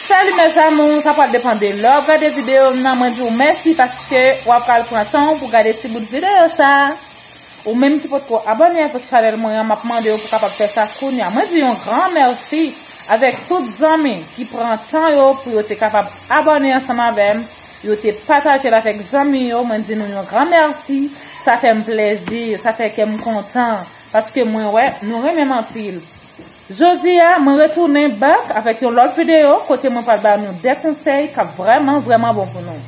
Salut mes amours, sa pral depan de lè wap gade video m nan, mwen di w mèsi paske wap pral pran tan w pou gade ti bout video sa. Ou menm ki potko abone avèk chanèl mwen an, map mande w pou kapab fè sa kounya. Mwen di yon gran mèsi avèk tout zanmi ki pran tan yo pou yo te kapab abone ansanm avèm, yo te pataje l avèk zanmi yo, mwen di nou yon gran mèsi, sa fèm plèzi, sa fè kèm kontan paske mwen wè nou renmen m anpil. Jodi a mwen retounen back avèk yon lòt videyo kote mwen pral ba nou 2 konsèy kap vrèman vrèman bon pou nou.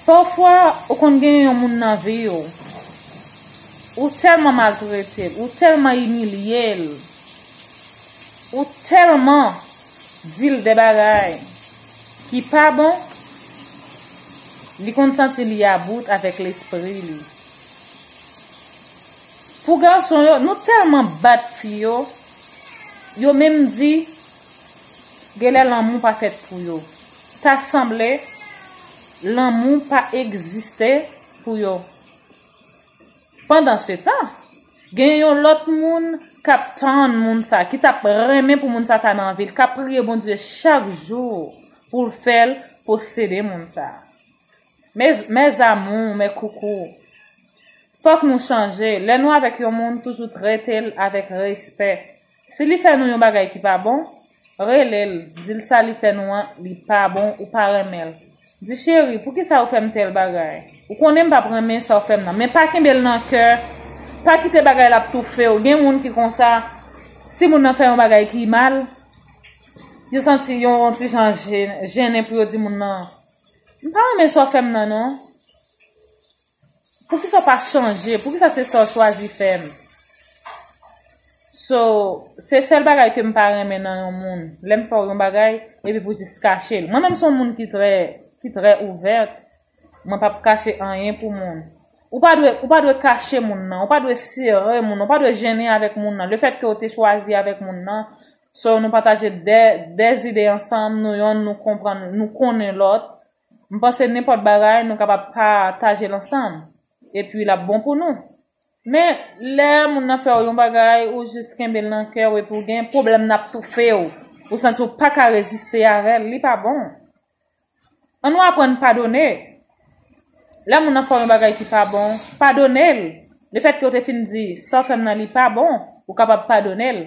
Pafwa ou konn gen yon moun nan vi w, ou tèlman maltrete l, ou tèlman imilye l, ou tèlman di l de bagay ki pa bon, li konn santi li about avèk lespri li. Pou gason yo nou telman bat fi yo yo menm di genlè lanmou pa fèt pou yo ta sanble lanmou pa egziste pou yo pandan se tan gen yon lòt moun kap tann moun sa ki tap renmen pou moun sa ta nan vil kap priye Bondye chak jou poul fèl posede moun sa. Mes mes amours mes coucous fòk nou chanje lè nou avèk yon moun toujou tretel avèk respè si li fè nou yon bagay ki pa bon relel dil sa li fè nou an li pa bon ou pa renmenl di cheri poukisa ou fèm tèl bagay ou konnenm pap renmen sa ou fèm nan men pa kenbel nan kè pa kite bagay la ap toufew gen moun ki konsa si moun nan fè yon bagay ki mal yo santi yon ti jan jennen pou yo di moun nan. M pa renmen sa w fè m nan non. Poukisa w pa chanje? Poukisa se sa w chwazi fè m? So, se sèl bagay ke m pa renmen nan yon moun. Lè m fè w yon bagay, epi pou jis kache l. Mwen menm se yon moun ki trè, ki trè ouvèt. Mwen pa p kache anyen pou moun. Ou pa dwe, ou pa dwe kache moun nan. Ou pa dwe sere moun nan. Ou pa dwe jennen avèk moun nan. Lefèt ke w te chwazi avèk moun nan. So nou pataje de de zide ansanm, nou yonn nou konprann nou konnen lòt. M panse nenpòt bagay nou kapab pa taje l ansanm. Epi l ap bon pou nou. Men, lè moun nan fè w yon bagay, ou jis kenbe l nan kè w epi w gen pwoblèm n ap toufe w. Ou santi w pa ka reziste avè l, li pa bon. An nou aprann padone. Lè moun nan fè w yon bagay ki pa bon, padone l. Lefètke w te fin di, sa w fè m nan li pa bon, ou kapab padone l.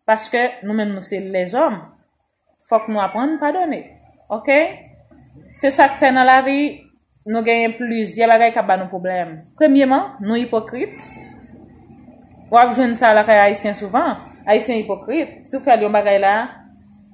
Paske nou menm nou se lèzòm, fòk nou aprann padone. Ok? Se sa k fè nan lavi, nou genyen plizyè bagay k ap ba nou pwoblèm. Premyeman, nou ipokrit. W ap jwenn sa lakay Ayisyen souvan. Ayisyen ipokrit. Si w fè l yon bagay la.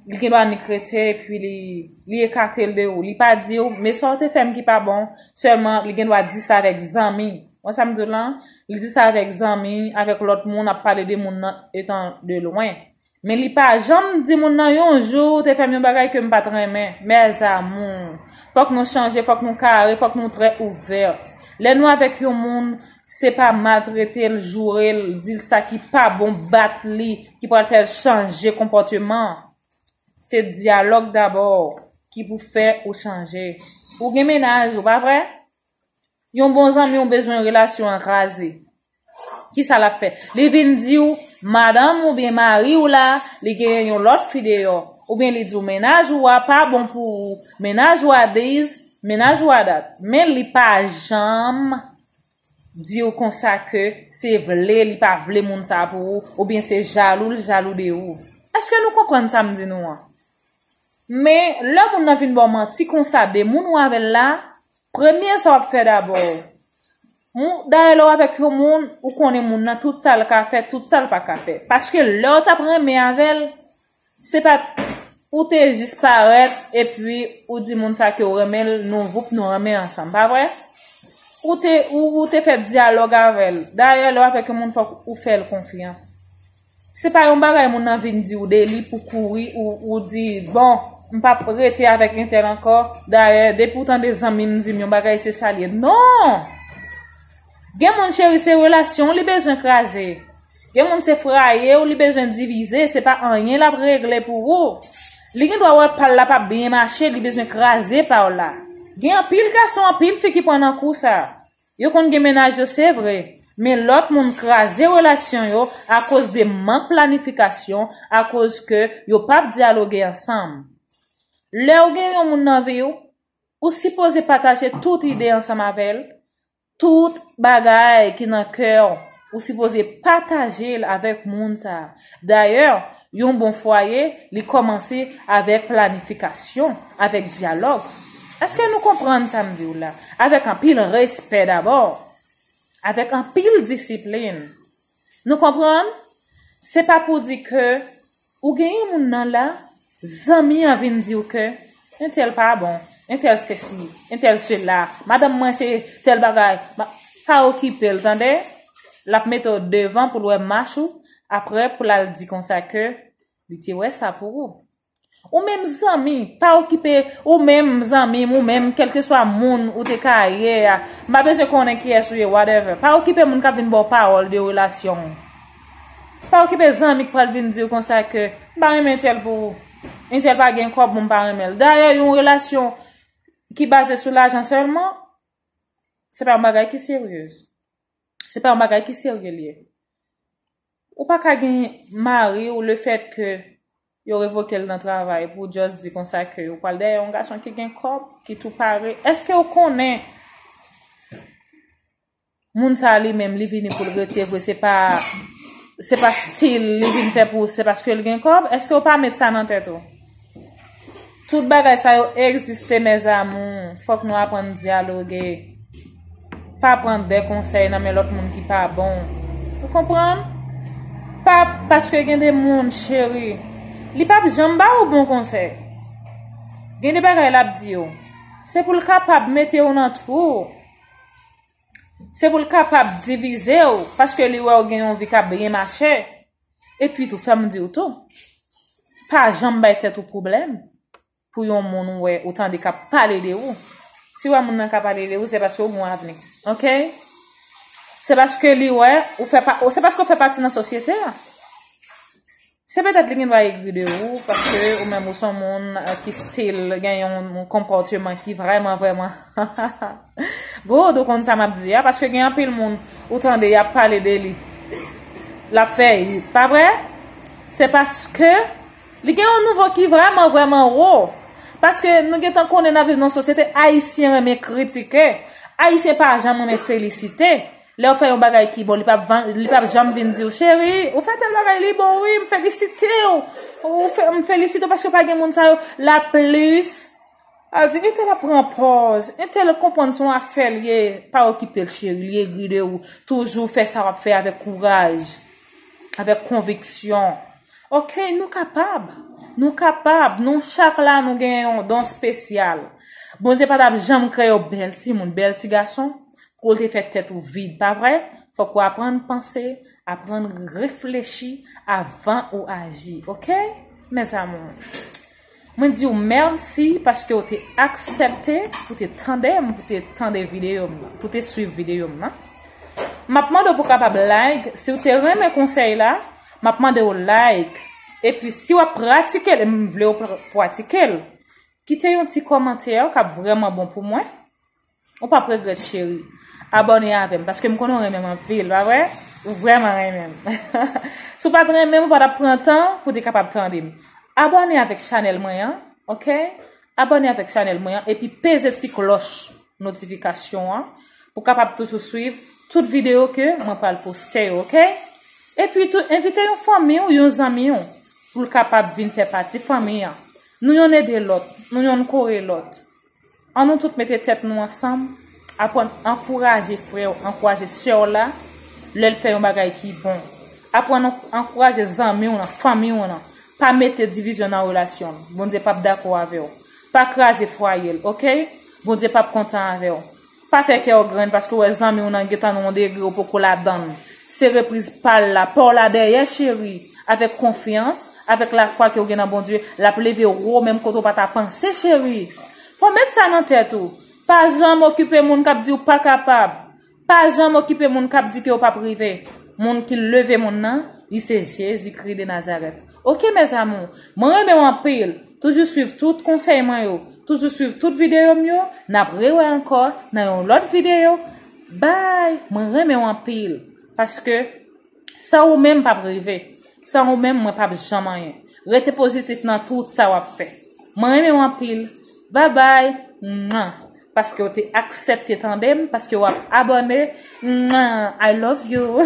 Li gen dwa nik rete epi li ekate l de ou. Li pa di ou, men sa ou te fè m ki pa bon. Sèlman, li gen dwa di sa avèk zanmi. Wè sa m di w la? Li di sa avèk zanmi, avèk lòt moun, ap pale de moun nan etan de lwen. Men li pa janm di moun nan yon jou ou te fè m yon bagay ke m pa t renmen. Mes amours! Fòk nou chanje, fòk nou kare, fòk nou trè ouverte. Lè nou avèk yon moun, Se pa maltrete l, joure l, di l sa ki pa bon, bat li ki pral fè l chanje konpòteman. Se dyalòg dabò ki pou fè ou chanje. Ou gen mennaj ou, pa vre? Yon bon zanmi w bezwen relasyon an kraze. Ki sa l ap fè? Li vin di w madanm ou oubyen mari w la, li genyen yon lòt fi deyò. Oubyen li di w mennaj ou a pa bon pou ou, mennaj ou a this, mennaj ou a that. Men li pa janm diw konsa ke se vle li pa vle moun sa pou ou oubyen se jalou li jalou de ou eske nou konprann sa m di nou an men lè moun nan vin baw manti konsa de moun ou avèl la premye sa wap fè dabò dayè lèw avèk yon moun ou konnen moun nan tout sal ka fè tout sal pa ka fè paske lèw tap renmen avèl Se pat Ou te jis parèt epi ou di moun sa kew renmenl nou voup nou renmen ansanm pa vre? Ou te ou te fè dyalòg avèl dayè lèw avèk yon moun fòk ou fèl konfyans se pa yon bagay moun nan vin diw deli pou kouri ou di bon m pap rete avèk entèl ankò dayè depiw tande zanmim dim yon bagay se sal ye non! Gen moun cheri se relasyonw li bezwen kraze. Gen moun se fraye w li bezwen divize, se pa anyen lap regle pou ou. Li gen dwa wè pal la pap byen mache, li bezwen kraze pa w la. Gen anpil gason, anpil fi ki pran nan kou sa. Yo konn gen mennaj yo se vre, men lòt moun kraze relasyon yo akoz de mank planifikasyon, akoz ke yo pap dyaloge ansanm. Lè ou gen yon moun nan vi w, ou sipoze pataje tout ide ansanm avè l, Tout bagay ki nan kè w, ou sipoze pataje l avèk moun sa. Dayè, yon bon fwaye, li kòmanse avèk planifikasyon, avèk dyalòg. Eske nou konprann sa m di w la? Avèk anpil respè dabò, avèk anpil disiplin. Nou konprann? Se pa pou di ke ou gen yon moun nan la, zanmi an vin di w ke entèl pa bon, entèl sesi, entèl sela, madanm mwen se tèl bagay, ma. Pa okipe l tande, l ap mete w devan pou l wè mach ou, aprè pou l al di konsa ke li te wè sa pou ou. Ou menm zanmi, pa okipe, ou menm zanmi m, ou menm kèlkeswa moun ou te ka ye a, m pa bezwen konnen kiyès ou ye, whatever. Pa okipe moun k ap vin ba w pawòl de relasyon ou. Pa okipe zanmi k pral vin di w konsa ke, m pa renmen entèl pou ou. Entèl pa gen kòb, bon m pa renmen l. Dayè, yon relasyon ki baze sou lajan sèlman, se pa yon bagay ki seryez. Se pa yon bagay ki serye li ye. Ou pa ka gen mari ou lefèt ke yo revoke l nan travay pou w just di konsa ke ou pral dèyè yon gason ki gen kòb, ki tou pare. Eske ou konnen moun sa li menm li vini pou l rete vre se pa se pa stil li vin fè pou se paske l gen kòb? Eske ou pa met sa nan tèt ou? Tout bagay sa yo egziste mes amours fok nou aprann dyaloge pa pran de konsèy nan men lot moun ki pa bon ou konprann pa paske gen de moun cheri li pap janm ba ou bon konsèy gen de bagay lap di yo se pou l kapab mete ou nan twou se pou l kapab divize ou paske li wè ou gen yon vi kap byen mache Epi tou, fè m di w tou, pa janm bay tèt ou pwoblèm pou yon moun ou wè, ou tande k ap pale de ou. Si w wè moun nan ka pale de ou, se paske ou gen yon avni. Ok? Se paske li wè, ou fè pa, se paske ou fè pati nan sosyete a. Se petèt li gen dwa egri de ou, paske ou menm ou s on moun ki stil gen yon konpòteman ki vrèman vrèman, ha ha ha! Gold ou konn sa map di a paske gen anpil moun ou tande yap pale de li lap fè it pa vre se paske li gen yon nivo ki vreman vreman wo paske nou gentan konnen nap viv nan yon sosyete ayisyen renmen kritike ayisyen pa janm renmen felisite lèw fè yon bagay ki bon li pap janm vin diw cheri ou fè tèl bagay li bon wi m felisitew m felisitew paske pa gen moun sa yo la plis. Al di entel ap pran pòz, entel konprann son afèl ye, pa okipel cheri li egri de ou, toujou fè sa wap fè avèk kouraj, avèk konviksyon ok nou kapab, nou kapab nou chak la nou gen yon don spesyal, Bondye pa tap janm kreye w bèl timoun, bèl ti gason pou te fè tèt ou vid pa vre, fòk ou aprann panse, aprann reflechi avan ou aji ok mes amours. Mwen di w mèsi paske w te aksèpte pou te tande m, pou te tande videyo m nan, pou te swiv videyo m nan. M ap mande w pou kapab like, si w te renmen konsèy la, m ap mande w like. E pi si w ap pratike l, e m vle w pratike l, kite yon ti kòmantè ka p vrèman bon pou mwen. Ou pap regret cheri. Abone avem paske m konnen w renmen m anpil pa vre? Ou vreman renmen m. Si w pat renmen m ou pa tap pran tan pou w te kapab tande m. Abone avek chanel mwen an ok. Abone avek chanel mwen an epi peze ti kloch notifikasyon an pou w kapab toujou swiv tout video ke mwen pral poste yo ok. Epi tou envite yon fanmi w yon zanmi w pou l kapab vin fè pati fanmi an. Nou yonn ede lòt, nou yonn kore lòt. An nou tout mete tèt nou ansanm, aprann ankouraje frè w, ankouraje sè w la lè l fè yon bagay ki bon. Aprann ankouraje zanmi w lan, fanmi w lan. Pa mete divizyon nan relasyon l. Bondye p ap dakò avè w. Pa kraze fwaye l, oke. Bondye p ap kontan avè w. Pa fè kè w grenn paske w wè zanmi w nan gentan nan yon degre w poko ladann. Se repriz pa l la, pa w la dèyè cheri. Avèk konfyans, avèk lafwa ke w gen nan Bondye, l ap leve w wo menm kote w pa ta panse cheri. Fò w met sa nan tèt ou. Pa janm okipe moun k ap di w pa kapab. Pa janm okipe moun k ap di ke w p ap rive. Moun ki leve moun nan, li se Jezikri de Nazarèt. Ok mes amours. Mwen renmen w anpil. Toujou swiv tout konsèy mwen yo. Toujou swiv tout videyo m yo. Nap rewè ankò nan yon lòt videyo. Bye! Mwen renmen w anpil. Paske san ou menm m pap rive. San ou menm mwen pap janm anyen. Rete pozitif nan tout sa wap fè. Mwen renmen w anpil. Bye bye! Mwah! Paske w te aksèpte tande m. Paske wap abòne. Mwah! I love you!